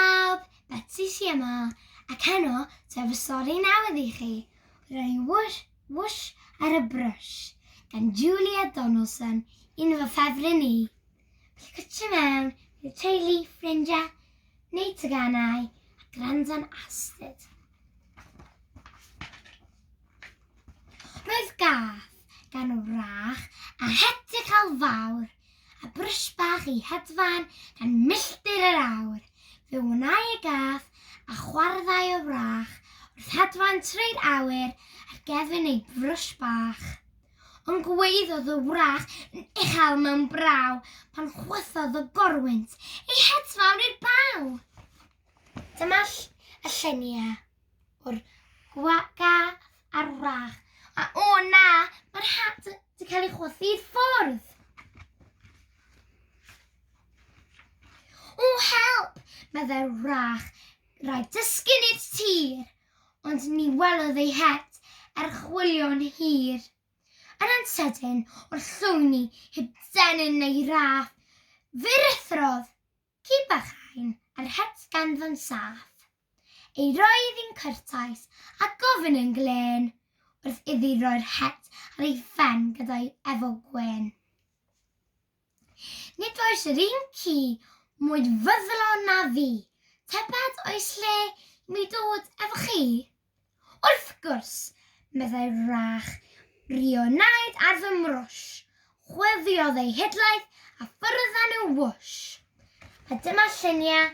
Pawb, Betsi sy yma, ac heno ta fy sori newydd i chi, roi whoosh, whoosh ar y brwsh, gan Julia Donaldson, un o fy ffefryn i. Felly cytio mewn, bydd teulu, ffrindiau, neu teganau, a gwrando'n astud. Roedd gath gan wrach a heddychel fawr, a brys bach i hedfan gan milltir yr awr. Fe wnai y gath, a chwarddai o wrach, wrth hedfan trwy'r awyr ar gefn ei brys bach. Ond gwaeddodd y wrach yn uchel mewn braw pan chwythodd y gorwynt ei hedfan i'r baw. Dyma y lluniau. o'r gwagardd a'r wrach. A o na, mae'r hat wedi cael ei chwythu i'r ffwrdd. O help, meddai'r wrach, rhaid dysgu i'r tir. Ond ni welodd ei het er chwilio'n hir. Yn ansydyn, o'r llwyni, heb denyn neu raff, fe rithrodd, ci bach ein, a'r het ganddo'n saff. Ei roedd yn cyrtaus a gofyn yn glên wrth iddi roi'r het ar ei phen gyda'i efo gwên. Nid oes yr un ci mwy fyddlon na fi, tybed oes lle i mi dod efo chi? Wrth gwrs, meddai Rach, rionaid ar fy mrwsh. Chwifiodd ei hidlaeth a ffwrdd â nhw whoosh. A dyma lluniau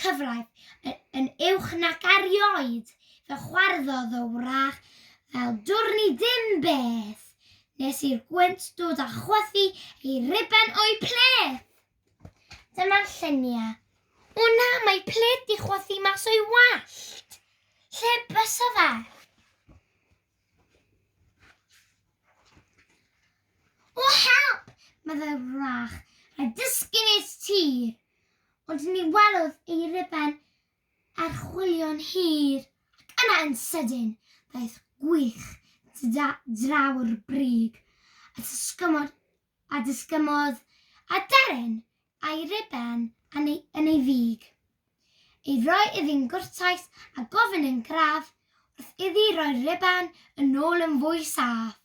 cyfraith yn, yn uwch nac erioed, fe chwarddodd y wrach fel dwrn i dim beth, nes i'r gwynt dod a chwythu ei riben o'i pleth. Dyma'r lluniau. O na, mae pled di chwythu mas o'i wallt. Lle bysa fe? O help! meddai Wrach, rhaid dysgu nes ti! Ond ni welodd ei ruben archwilio'n hir, ac yna yn sydyn, daeth gwych draw'r brig, a disgymod a disgynnodd â darren a'i ruben yn ei, yn ei fig, ei roi iddi'n gwrtais a gofyn yn graff wrth iddi roi'r ruben yn ôl yn fwy saff.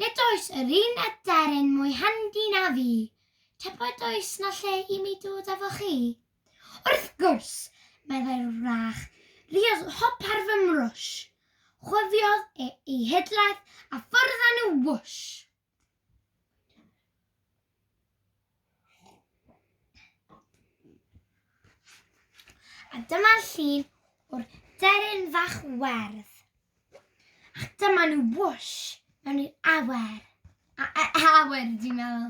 Nid oes yr un aderyn mwy handi na fi. Tybed oes na lle i mi dod efo chi? Wrth gwrs, meddai'r wrach, riodd hop ar fy mrwsh. Chwifiodd e ei hidlaeth a ffwrdd â nhw wwsh! A dyma llun o'r deryn fach werdd. Ac dyma nhw wwsh mewn i'r awer. A, a, awer, dwi'n meddwl.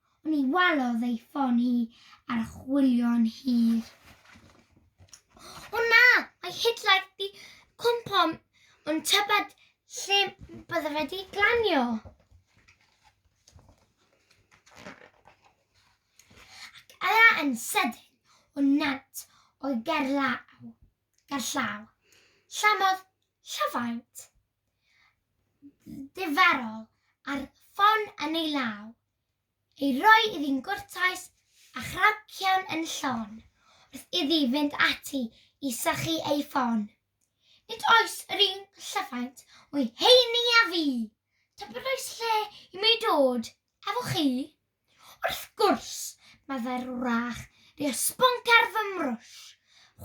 Ni walodd ei ffon hi ar chwilio'n hir. O na, mae Hitler di cwmpo yn tybed lle bydde wedi glanio. Ac yna yn sydyn, o nant o'i gerllaw, gerllaw, llamodd llafaint. ddifarol ar ffon yn ei law, ei roi iddi'n gwrtais a chracian yn llon wrth iddi fynd ati i sychu ei ffon. Nid oes yr un llyfaint o'i heini â fi! Tybed oes lle i mi ddod efo chi? Wrth gwrs, meddai'r wrach, bu y sbwnc ar fy mrwsh.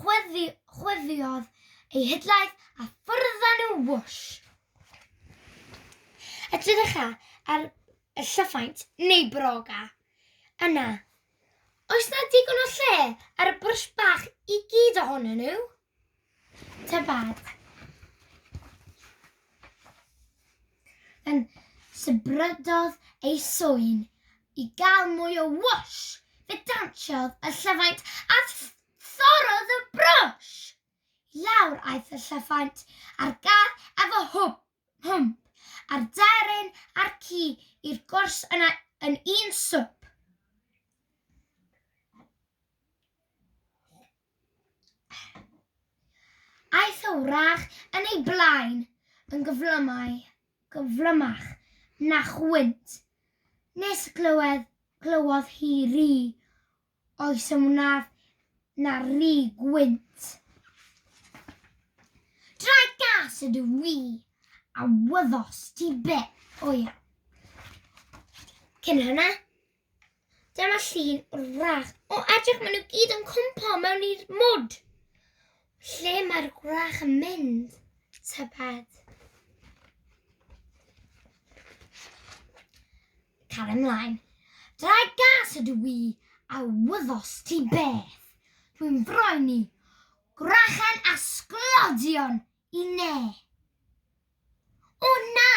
Chwyddi, chwyddiodd ei hidlaeth a ffwrdd â nhw whoosh! Edrycha ar y llyfaint neu broga. Yna, oes 'na digon o lle ar y brwsh bach i gyd ohonyn nhw? Tŷ bach. Yn sybrydodd ei swyn i gael mwy o whoosh. Fe dansiodd y llyfaint a thorrodd y brwsh. I lawr aeth y llyfaint a'r gar efo hwb, hwmp, a'r deryn a'r ci i'r gwrs yna yn un swp. Aeth y wrach yn ei blaen yn gyflymau, gyflymach na chwynt, nes glywed, glywodd hi ri, oes yn wnaf na ri gwynt. Draed gas ydw i, a wyddos ti beth, o iawn. Cyn hynna, Dyma llun wrach. O edrych maen nhw gyd yn cwmpo mewn i'r mwd. Lle mae'r gwrach yn mynd? Tybed. Cael ymlaen. Dra gas ydw i a wyddos ti beth. Dwi'n froen i. Gwrachau a sglodion I ne? O na!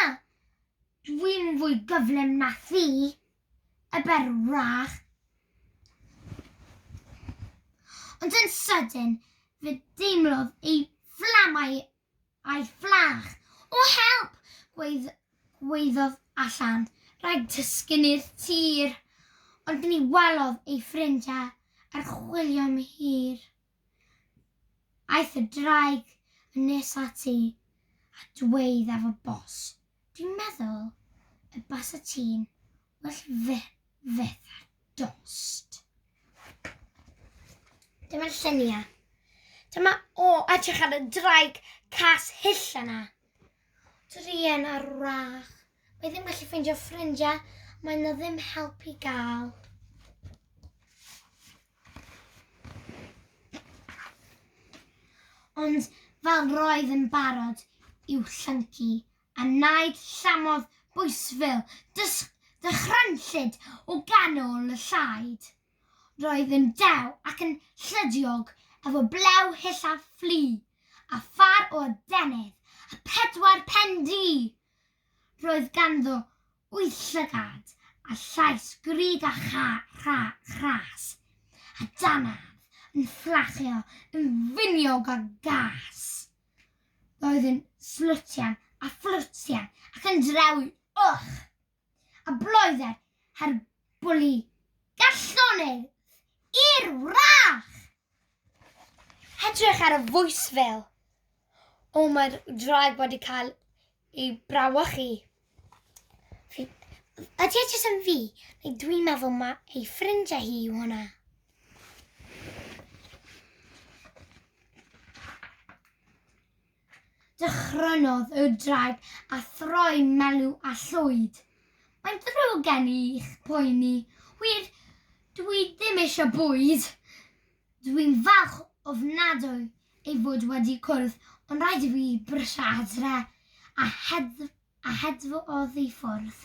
Dwi'n fwy gyflym na thi, y ber wrach. Ond yn sydyn, fe deimlodd ei fflamau a'i fflach. O help! Gweith, gweiddodd allan. Rhaid tysgun i'r tir. Ond ni welodd ei ffrindiau ar chwilio am hir. Aeth y ddraig yn nes ati a dweud ef o bos, Dwi'n meddwl y basa ti'n well fe fyth ar dost. Dyma'r lluniau. Dyma o edrych ar y ddraig cas hyll yna. Druan ar wrach. Mae ddim gallu ffeindio ffrindiau, mae yna ddim help i gael. Ond fel roedd yn barod i'w llyncu, a naid llamodd bwysfil dysg dychrynllyd o ganol y llaid. Roedd yn dew ac yn llydiog efo blew hyll a fflu, a phâr o adenydd a phedwar pen du! Roedd ganddo wyth llygad a llais grug a chras, a dannedd yn fflachio yn finiog a gas. Roedd yn slwtian a fflwtian ac yn drewi, ych! a bloedder her bwli gallonydd i'r wrach. Edrych ar y fel. O, mae'r draig wedi cael ei brawychu. Ydy e jyst yn fi, neu dwi'n meddwl mae ei ffrindiau hi yw hwnna. Dychrynnodd y draig a throi Melw a Llwyd. Mae'n ddrwg gen i i'ch poeni. Wir, dw i ddim eisiau bwyd! Dw i'n falch ofnadwy ei fod wedi cwrdd, ond rhaid i fi brysio adre, a hedf a hedfodd i ffwrdd.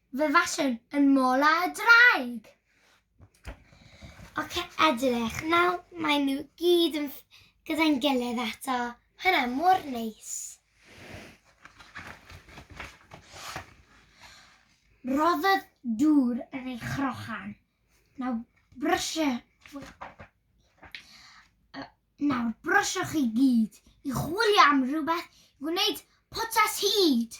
Fe faswn yn mola y draig. Oce, edrych, nawr maen nhw gyd yn gyda'n gilydd eto. Hynna mor neis. Roddodd dŵr yn ei chrochan. Nawr brysio... Nawr brysio chi gyd i chwilio am rhywbeth i wneud potas hyd.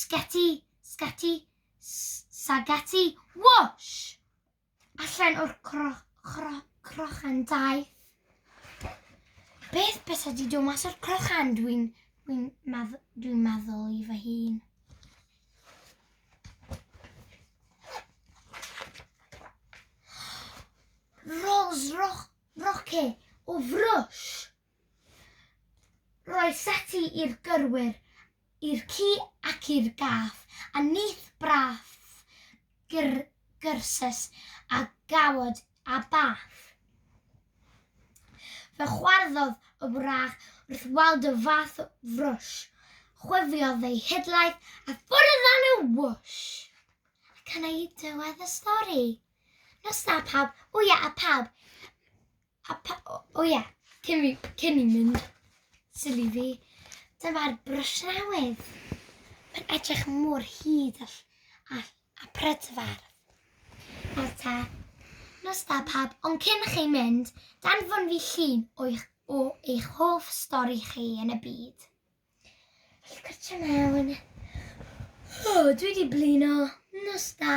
Sgeti, sgeti, sageti, whoosh! Allan o'r cro, cro, crochan daeth. Beth beth ydi do mas o'r crochan? Dwi'n dwi medd, dwi meddwl i fy hun. Rolls roch, roce o frwsh. Roedd seti i'r gyrwyr, i'r ci ac i'r gath, a nith brath gyr gyrsus a gawod a bath. Fe chwarddodd y wrach wrth weld y fath frwsh, chwifiodd ei hidlaeth a ffwrdd â nhw wwsh! Ac yna i dywed y stori. Nos da pawb, wya a pawb! A pa, o, o ie, cyn fi, cyn i mynd sili fi, dyma'r brwsh newydd. Mae'n edrych mor hyd a, a, a prydfer. Nawr ta, nos da pab, ond cyn chi mynd, danfon fi llun o'ch, o eich hoff stori chi yn y byd. Felly gwrtio mewn. O, dwi wedi blino. Nos da.